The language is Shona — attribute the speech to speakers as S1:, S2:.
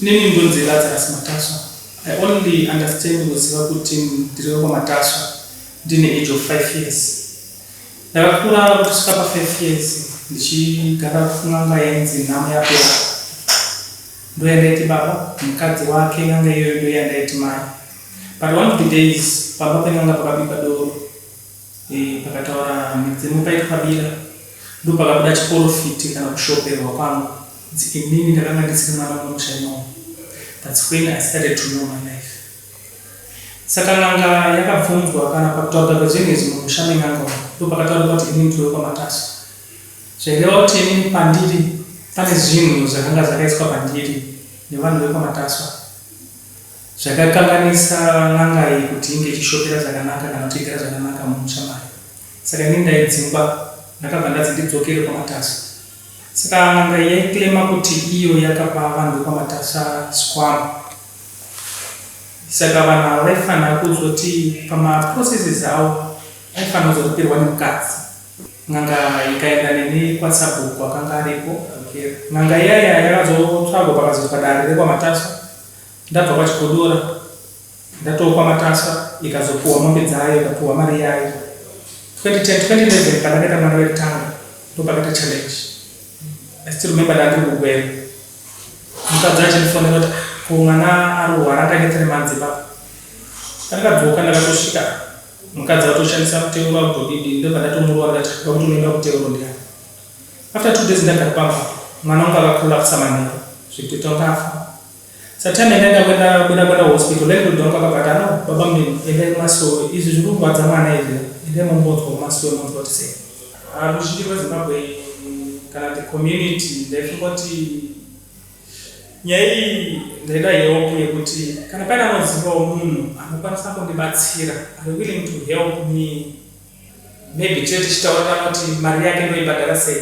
S1: Nini ndonzi Lazarus Matasva. I only understand kuziva kuti ndiri wekwaMatasva ndine age of five years. Ndakakura kusvika pa five years ndichigara kun'anga yainzi nhamo yapera. Ndoyandaiti baba, mukadzi wake n'anga iyoyo ndoyandaiti mai. But one of the days pamba pen'anga pakabikwa doro. Eh, pakataura mudzimu paitwa bira ndopakabuda chiporofiti kana kushoperwa kwangu kuti inini ndakanga ndisiri mwana wemusha imomo that's when i started to know my life saka n'anga yakabvunzwa kana pakutaurwa kwezvenezvi mumusha men'anga umu ndopakataurwa kuti inini ndiwe kwamataso zvaireva kuti inini pandiri pane zvinhu zvakanga zvakaiswa pandiri nevanhu vekwamatasa Zvakakanganisa n'anga iyi kuti inge ichishopera zvakanaka kana kuchengeta zvakanaka mumusha mayo. Saka ini ndaidzingwa ndakabva ndanzi ndidzokere kwaMatasva. Saka n'anga iyi yaiclaima kuti iyo yakapa vanhu vekwaMatasva zvikwambo. Saka vanhu ava vaifanira kuzoti pamaprocesses avo vaifanira kuzotopirwa nemukadzi. N'anga ikaenda neni kwasabhuku akanga aripo. N'anga iyaya yakazotsvagwa pakazoitwa dare rekwaMatasva Ndabva kwaChigodora ndatoo kwaMatasva ikazopuhwa mombe dzayo ikapuhwa mari yayo 2010 2011 pandakaita mwana wekutanga ndopakaita challenge I still remember ndandiri kuGweru mukadzi achindifonera kuti ah, ko mwana arwara akaita three months ipapo pandakadzoka ndakatosvika mukadzi atoshandisa kuteura kudodidi ndobva ndatomurova ndati akuti unoenda kuteuro ndiani After two days ndagara pamba mwana wangu akacollapsa manheru zvekutoita kunge afa. Satime yandaida kuenda kuda kuenda kuhospital landlord wangu akabva ati ano baba Mdini endai kumasowe izvi zviri kurwadza mwana izvi endai mombonzwa kumasowe monzwa kuti sei. Ah, ruzhinji rweZimbabwe kana the community ndaifungoti nyaya iyi ndaida help yekuti kana paine anozivawo munhu anokwanisa kundibatsira are willing to help me Maybe tinenge tichitaurira kuti mari yake ndoibhadhara sei.